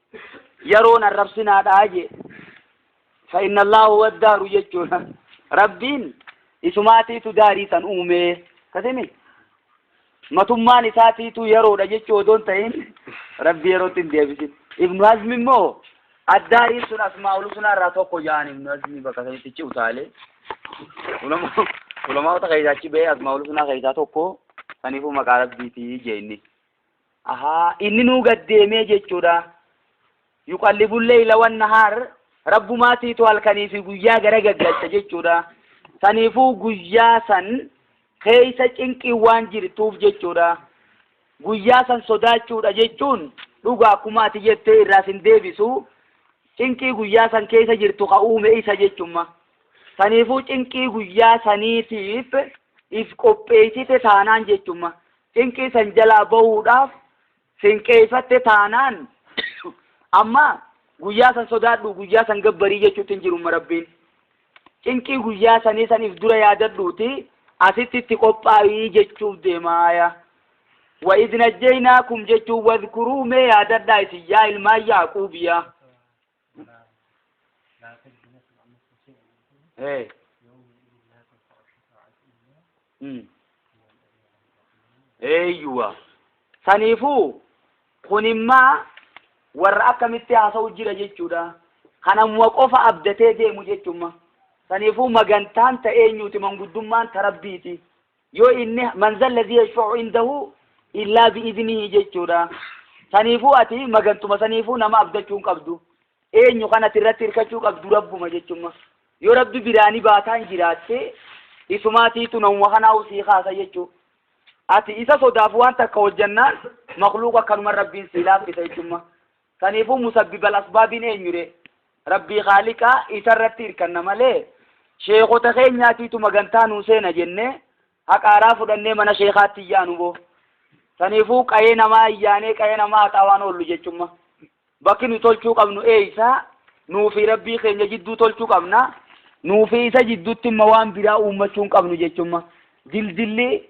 yeroon arrabsinaadha jee fa'inna allaahu waddaaru jechuudha rabbiin isumaatiitu daarii san uumee kasimi matummaan isaatiitu yeroodha jechuu odoon ta'in rabbi yerootti hin deebisin ibnu hazmi immoo addaariin sun asmaa ulusunaa irraa tokko ja'an ibnu hazmi bakka sanitti ci utaalee ulamaawota keessaa achi ba'ee asmaa ulusunaa keessaa tokko saniifuu maqaa rabbiitii jee inni Ahaa, inninuu gad deemee jechuudha. Yuqallibul leeyla wan nahaar, Rabbumaatiitu halkanii fi guyyaa gara gaggalcha jechuudha. Saniifuu guyyaa san keeysa cinqiin waan jirtuuf jechuudha. Guyyaa san sodaachuudha jechuun dhugaa akkuma ati jettee irraa sin deebisu cinqii guyyaa san keeysa jirtu ka uume isa jechumma. Saniifuu cinqii guyyaa saniitiif if qopheeysite taanaan jechumma. Cinqii san jalaa bahuudhaaf sinqeeyfatte taanaan amma guyyaa san sodaadhu guyyaa san gabbarii jechuutti hin jirumma rabbiin cinqii guyyaa sanii san if dura yaadadhuuti asitti itti qophaa'ii jechuuf deemaaya wa idnajjeynaakum jechuun wadkuruu mee yaadadhaa isin yaa ilmaan yaaquubiyaa Hey. Mm. Eeyyuwa. Saniifuu kunimmaa warra akkamitti haasa'u jira jechuudha. Kanamuma qofa abdatee deemu jechuumma. Saniifuu magantaan ta eenyuuti manguddummaan ta rabbiiti. yoo inni man zalladhi yashfa'u indahu illaa bi'idnihi jechuudha saniifuu ati magantuma saniifuu nama abdachuu hin qabdu eenyu kan ati irratti hirkachuu qabdu rabbuma jechumma yoo rabbi biraani baataan jiraatte isumaatiitu namuma kanaa usii kaasa jechuu ati isa sodaaf waan takka hojjannaan makluuqa akkanuman rabbiin sii laaffisa jechumma Saniifuu musabbibal asbaabiin eenyuree? Rabbii khaaliqa isarratti irkanna malee sheekhota keenyaatiitu magantaa nuu seena jennee haqa araa fudhannee mana sheekhaatti hin yaanuboo. Saniifuu qayee namaa hin yaanee qayee namaa haxaa waan oollu jechumma. Bakki nu tolchuu qabnu eeysa? Nuufi Rabbii keenya jidduu tolchuu qabna. Nuufi isa jiddutti imma waan biraa uummachuu hin qabnu jechumma. Dildilli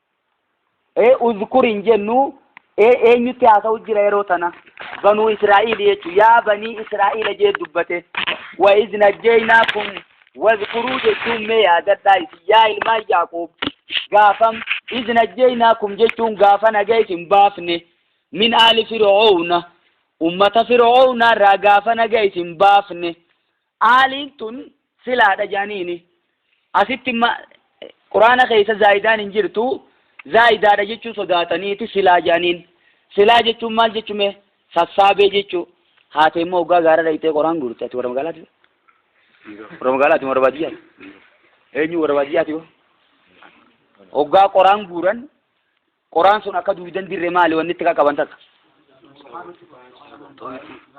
ee uzkur hin jennu ee eenyutti haasa'u jira yeroo tana banuu israa'iil jechuun yaa banii israa'iila jee dubbate wa iz najjaynaakum wazkuruu jechuun mee yaadadhaa isin yaa ilmaan yaaqoob gaafam iz najjaynaakum jechuun gaafa naga isin baafne min aali fir'oowna ummata fir'oowna irraa gaafa naga isin baafne Aaliin tun silaadha je'aniini. Asitti ma, Qur'aana keessa zaayidaan hin jirtu, zaayidaadha jechuu sodaataniiti silaa je'aniin. Silaa jechuun maal jechu mee? Sassaabee jechu. Haatee immoo hoggaa gaara dhayxee qoraan guurte ati warra magaalaati? Warra magaalaati warra baadiyyaati? Eenyu warra baadiyyaati hoo? Hoggaa qoraan guuran Qoraan sun akka duwidan dirre maali wanni itti qaqqaban takka?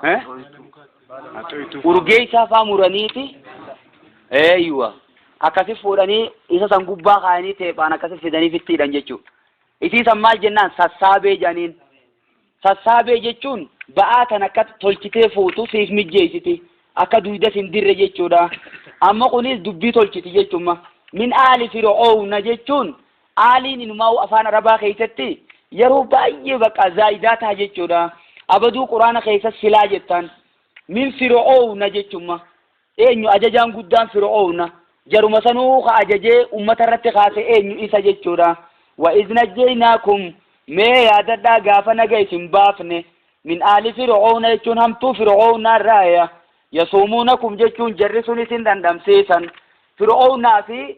Eh? Urgeessaa faa muraniiti. Eeyyuwa. Akkasi fuudhanii isa san gubbaa kaayanii teephaan akkasi fidanii fittiidhan jechuudha. Isii san maal jennaan sassaabee jedhaniin. Sassaabee jechuun ba'aa kan akka tolchitee fuutu siif mijjeessiti. Akka duydas hin dirre jechuudha. Amma kunis dubbii tolchiti jechuudha. Min aali fir'oowna jechuun aaliin inumaa'u afaan arabaa keessatti yeroo baay'ee bakka zaayidaa taha jechuudha. Abaduu quraana keessas silaa jettaan. Min fir'oowna jechuudha. Eenyu ajajaan guddaan Fir'owna? Jaruma sanuu ka ajajee ummata irratti kaase eenyu isa jechuudha. Wa iz najjaynaakum mee yaadadhaa gaafa naga isin baafne min aali Fir'owna jechuun hamtuu Fir'ownaa irraaya yasuumuunakum jechuun jarri sun isin dhandhamsiisan. Fir'ownaa fi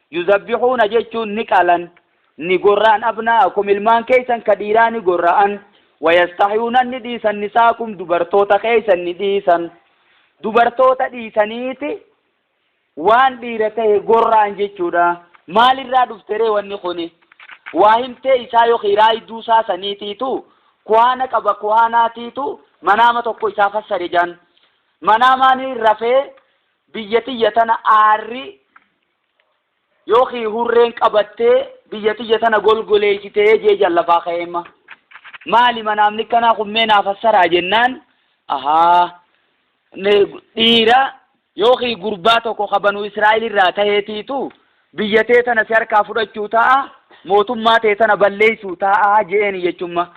Yuzabbihuuna jechuun ni qalan, ni gorra'an abnaa'akum ilmaan keeysan ka dhiiraa ni gorra'an, wayastahyuuna ni dhiisan nisaakum dubartoota keeysan ni dhiisan. Dubartoota dhiisaniiti waan dhiira tahe gorra'an jechuudha. Maalirraa dhufteree wanni kuni? Waa himtee isaa yookiin raayduu isaa saniitiitu kuhaana qaba kuhaanaatiitu manaama tokko isaa fassare jaan. Manaamaani rafee Biyya tiyya tana aarri yookiin hurreen qabattee biyya tiyya tana golgoleessitee jee jallafaa ka'eemma. Maali manaamni akkanaa kun mee naa fassaraa jennaan ahaa dhiira yookiin gurbaa tokko ka banu Israa'el irraa taheetiitu biyya tee tana si harkaa fudhachuu ta'a mootummaa tee tana balleessuu ta'a je'een jechumma.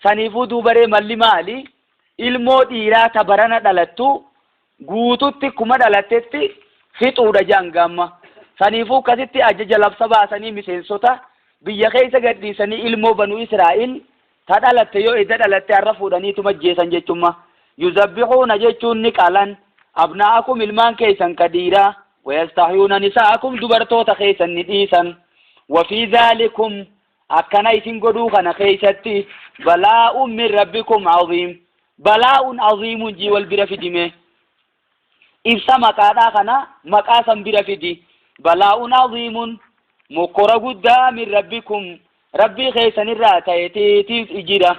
Saniifuu duubaree malli maali ilmoo dhiiraa ta barana dhalattu guututti kuma dhalattetti fixuudha jedhan gaamma. Saniifuu kasitti ajaja labsa baasanii miseensota biyya keessa gadhiisanii ilmoo banu Israa'iil ta dhalatte yoo edda dhalatte har'a fuudhaniituma ajjeesan jechumma. Yuzabbihuuna jechuun ni qalan abnaa'akum ilmaan keessan ka dhiiraa wayastahyuuna nisaa'akum dubartoota keessan ni dhiisan. Wafii zaalikum akkana isin godhuu kana keeysatti balaa'un min rabbikum aziim balaa'un aziimun jii wal bira fidime ibsa maqaadhaa kana maqaa san bira fidi balaa'un aziimun mokkora guddaa min rabbikum rabbii keeysanirraa ta'etiitiif ijira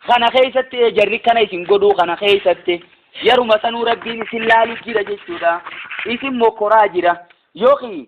kana keeysatti ee jarri kana isin godhuu kana keeysatti yaruma sanuu rabbiin isin laalu jira jechuudha isin mokkoraa jira yookiin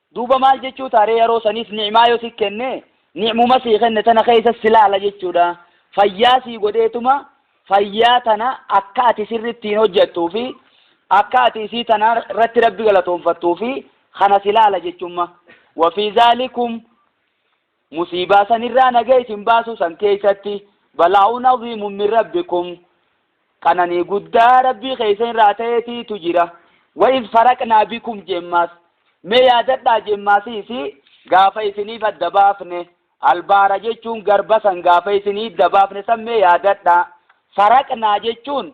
Duuba maal jechuu ta'a ree yaroo saniis ni'maa yoo si kenne ni'muma sii kenne tana keessa si laala jechuudha. Fayyaa sii godheetuma fayyaa tana akka ati sirri ittiin hojjattuu fi akka ati isii tana irratti rabbi galatoonfattuu fi kana si laala jechumma. Wafii zaalikum Musiibaa san irraa naga isin baasuu san keeysatti, balaa'un aziimun min rabbikum, qananii guddaa Rabbii keeysan irraa tayeetiitu jira. Wa iz faraqnaa bikum jemmaas, mee yaadadhaa jemmaasii isii gaafa isiniif adda baafne, al bahra jechuun garba san gaafa isinii idda baafne san mee yaadadhaa. Faraqnaa jechuun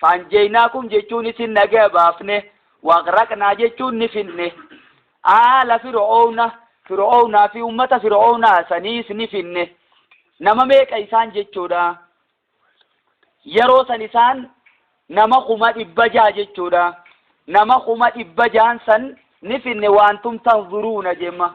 Faanjeynaakum jechuunis nagaya baafne, waqraqnaa jechuun ni finne. Aala Fir'owna, Fir'ownaa fi ummata Fir'ownaa saniis ni finne. Nama meeqa isaan jechuudha? Yeroo san isaan nama kuma dhibba jaha jechuudha. Nama kuma dhibba jahan san ni finne waantum tanzuruuna jemma.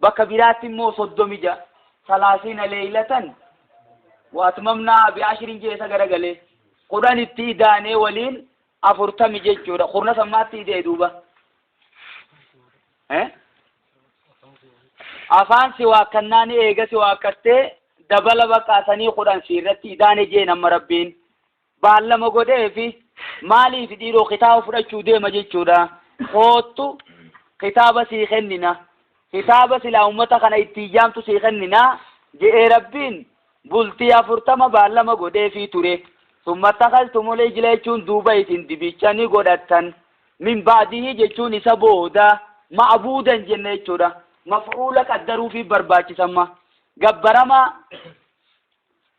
Bakka biraatti immoo 36, salaasiina leeylatan wa atmamnaahaa bi ashrin je'e isa garagale. 10 itti idaanee waliin 40 jechuudha. Kurna san maatti ida'e duuba? Eh? Afaan si waakkannaan eega si waakkattee dabala baqaa sanii 10 si irratti idaane jeen amma rabbiin. baallama godheefi maaliif dhiiroo kitaaba fudhachuu deema jechuudha koottu kitaaba sii kennina kitaaba silaa ummata kana itti iyyaamtu sii kennina je'ee rabbiin bultii afurtama baallama godheefii ture summa takaltumul ijla jechuun duuba isin dibicha ni godhattan min baadihii jechuun isa booda ma'abuudan jenne jechuudha maf'uula qaddaruufii barbaachisamma gabbaramaa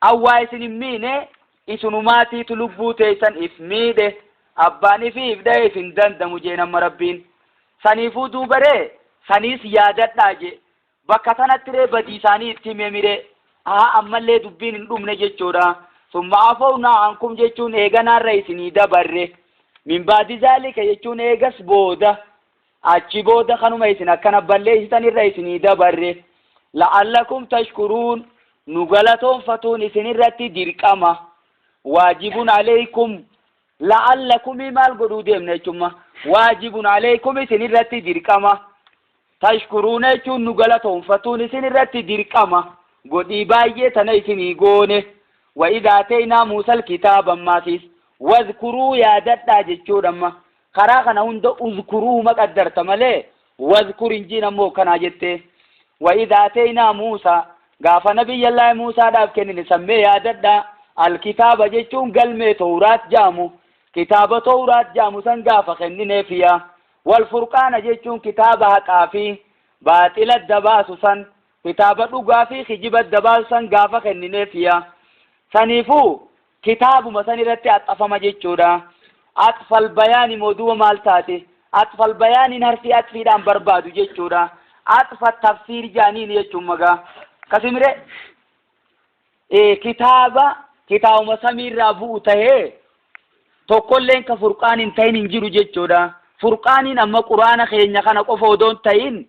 An waa isin hin miine, isunumaatiitu lubbuu teessan if miidhe, abbaan ifii if dhaye if hin dandamu jeen amma Rabbiin. Saniifuu duuba ree, saniis yaadadhaa jee. Bakka tanatti ree badii isaanii itti himemi ree? Ahaa ammallee dubbiin hin dhumne jechuudha. Summa afawnaa ankum jechuun eeganaa irra isinii dabarre. Min ba'di zaalika jechuun eegas booda. Achi booda kanuma isin akkana balleessitan irra isinii dabarre. La'allakum tashkuruun nu galatoonfatuun isin irratti dirqama. Waajibun aleykum la'allakumii maal godhuu deemna jechumma. Waajibun aleykum isin irratti dirqama. Tashkuruuna jechuun nu galatoonfatuun isin irratti dirqama. Godhii baay'ee tana isinii goone. Wa idhaa teeynaa muusal kitaaba ammaasiis. Wadhkuruu yaadadhaa jechuudha amma. Karaa kana hunda uzkuruhuma qaddarta malee wadhkur hin jiin ammoo hogganaa jettee. Wa idh aateeynaa Muusaa gaafa Nabiyyallaahi Muusaadhaaf kennine san mee yaadadhaa Al-kitaaba jechuun galmee Towraat ja'amu kitaaba Towraat ja'amu san gaafa kennineef ya Wal furqaana jechuun kitaaba haqaa fi baaxila adda baasu san kitaaba dhugaa fi kijiba adda baasu san gaafa kennineef ya Saniifuu kitaabuma san irratti axxafama jechuudha. Axfal bayaani moo duuba maal taate? Axfal bayaaniin harfii axfiidhaan barbaadu jechuudha. Axfa tafsiir jaaniin jechuun magaa. Kasimire ee kitaaba kitaabuma samiirraa bu'u tahee tokkolleen ka furqaan hin tahin hin jiru jechuudha. Furqaaniin amma quraana keenya kana qofa odoon tahin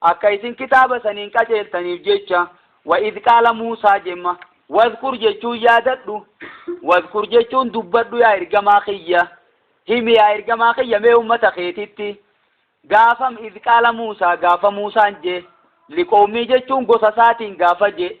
Akka isin kitaaba saniin qaceeltaniif jecha, wa idh qaala Muusaa jemma. Wadhkur jechuun yaadadhu. Wadhkur jechuun dubbadhu yaa ergamaa kiyya. Himi yaa ergamaa kiyya mee ummata keetitti. Gaafam idh qaala Muusaa gaafa Muusaan je, liqowmii jechuun gosa isaatiin gaafa je,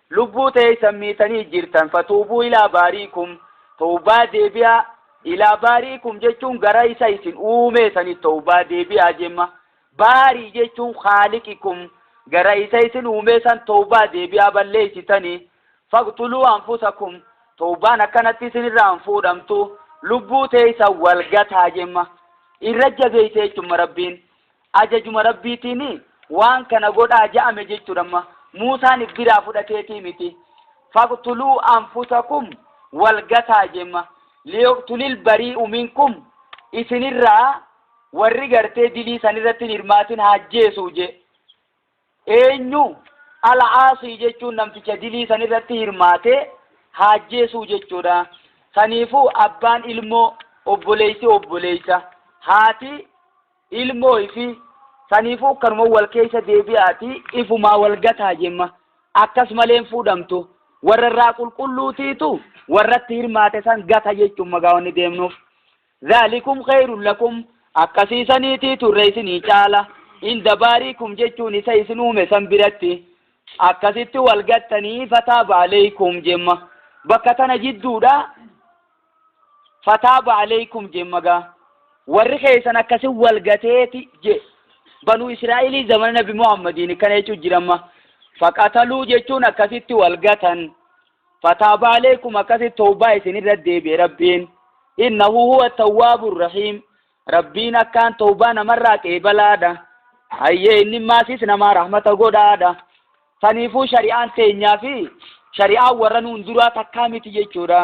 Lubbuu teeysan miitanii jirtan fatuubuu ilaa baariikum, towbaa deebi'aa, ilaa baariikum jechuun gara isa isin uumee sanitti towbaa deebi'aa jemma, baarii jechuun khaaliqikum, gara isa isin uumee san towbaa deebi'aa balleeysitani, faqtuluu anfusakum, towbaan akkanatti isin irraa hin fuudhamtu, lubbuu teeysan wal gataa jemma, irra jabeeyse jechumma rabbiin Ajajuma Rabbiitiin waan kana godhaa ja'ame jechuudha amma. Muusaan if biraa fudhateetii miti. Faqtuluu anfusakum wal gataa jemma. Liyuqtulil barii'u minkum isinirraa warri gartee dilii sanirratti hin hirmaatin haajjeesuu je. Eenyu? Al-Aasii jechuun namticha dilii san irratti hirmaatee haajjeesuu jechuudha. Saniifuu abbaan ilmoo, obboleessi obboleessa, haati ilmoo ifi saniifuu kanuma wal keessa deebi'aati ifumaa wal gataa jemma. Akkas malee hin fuudhamtu. Warra irraa qulqulluutiitu warratti hirmaate san gata jechuun magaa wanni deemnuuf. Zaalikum khayrun lakum, akkasii saniitiitu irra isinii caala, inda baariikum jechuun isa isin uume san biratti, akkasitti wal gattanii, fataaba aleykum jemma, bakka tana jidduudha, fataaba aleykum jemma gaa. Warri keessan akkasi wal gateeti je. Banuu Israa'ilii zamana Nabi Muhammadiin akkana jechuun jiramma. Faqataluu jechuun akkasitti wal gatan, fataabaa aleekum akkasitti tawbaa isin irra deebi'e rabbiin innahu huwa tawwaabu rahiim rabbiin akkaan tawbaa namarraa qeebalaadha hayyee inni maasiis namaa rahmata godhaadha saniifuu shari'aan teenyaa fi shari'aan warra nuun duraa takkaa miti jechuudha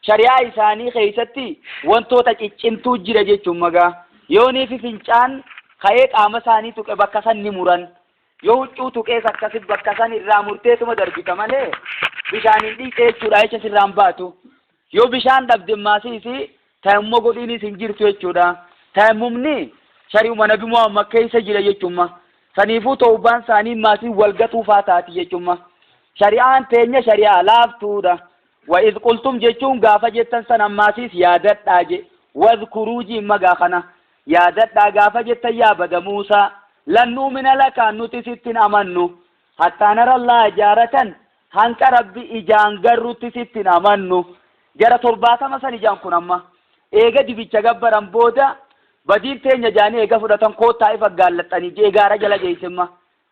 shari'aa isaanii keessatti wantoota ciccimtuu jira jechuun magaa yooniifi fincaan ka'ee qaama isaanii tuqe bakka san ni muran Yoo huccuu tuqees akkasi bakka san irraa murteetuma darbita malee bishaan hin dhiqxe jechuudha jecha sirraan baatu. Yoo bishaan dhabde maasii isii tayammuma godhiinis hin jirtu jechuudha. Tayammumni shari'uma nabi Muhammad keessa jira jechumma. Saniifuu tawbaan isaanii maasii wal gatuu faa taati jechumma. Shari'aan teenya shari'aa laaftuudha. Wa iz qultum jechuun gaafa jettan san ammaasiis yaadadhaa je. Wadhkuruu jiin magaa kana. Yaadadhaa gaafa jettan yaa bada Muusaa, Lan nu'mina laka, nuti sitti hin amannu, hattaa nara Allaaha jaaratan, hanqa Rabbi ijaan garrutti sitti hin amannu. Jara torbaatama sani je'an kun amma. Eega dibicha gabbaran booda, badiin teenya je'anii eega fudhatan koottaa ifa aggaallaxxanii je'ee gaara jala geeyse amma.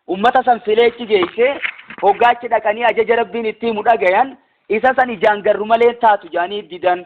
Ummata san filee achi geeyse, hoggaa achi dhaqanii ajaja Rabbiin itti himu dhagayan, isa san ijaan garru malee hin taatu je'anii didan.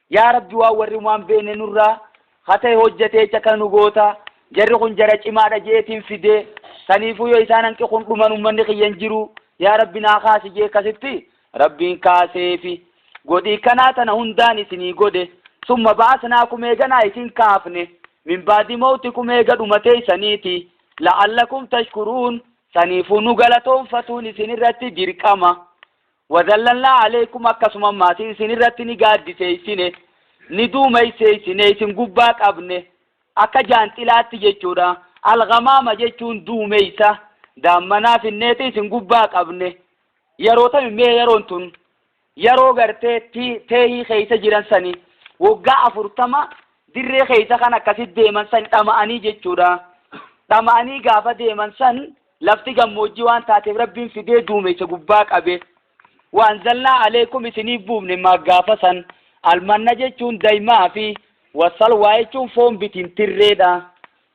Yaa Rabbi waan warri humaa hin beekne nurraa khata'e hojjatee jecha kana nu goota. Jarri kun jara cimaadha je'eetiin fide. Saniifuu yoo isaan hanqi kun dhuman ummanni kiyya hin jiru. Yaa Rabbi naa kaasi je'e kasitti Rabbiin kaaseefi. Godhii kanaa tana hundaan isinii godhe. Summa ba'asnaakum eeganaa isin kaafne. Min ba'di mawtikum eega dhuma teeysaniiti. La'allakum tashkuruun. Saniifuu nu galatoonfatuun isinirratti dirqama. Wazallalnaa alaykum akkasuma maatii isin irratti ni gaaddiseessine, ni duumesseessine, isin gubbaa qabne, akka jaanxilaatti jechuudha. Al-ghamaama jechuun duumessa, daammanaa finneeti isin gubbaa qabne. Yeroo tami mee yeroon tun yeroo gartee ti- teehii keessa jiran sani waggaa afurtama dirree keessa kan akkasitti deeman san dhama'anii jechuudha. Dhama'anii gaafa deeman san Lafti gammoojjii waan taateef Rabbiin fidee duumessa gubbaa qabe. Wa anzalnaa aleykum isiniif buufne maa gaafa san almanna jechuun daymaa fi wa salwaa jechuun foon bitintirreedha.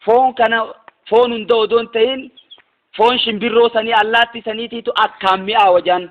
Foon kana foon hunda odoo hin tahin foon shimbirroo sanii allaattii saniitiitu akkaan mi'aawa jedhan.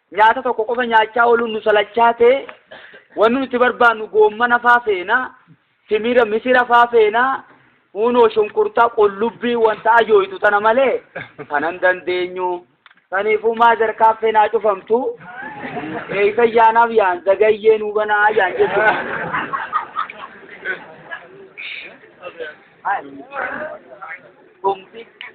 Nyaata tokko qofa nyaachaa ooluun nu salachaatee, wanni nuti barbaannu goommana faa feena, timira, misira faa feena, huunoo shunkurtaa, qullubbii, wanta ajooytu tana malee kana hin dandeenyu. Saniifuu maazar kaaffeen haa cufamtu, eeysan yaanaaf yaan zagayyee nuu banaa yaan jechuudha. Tumti.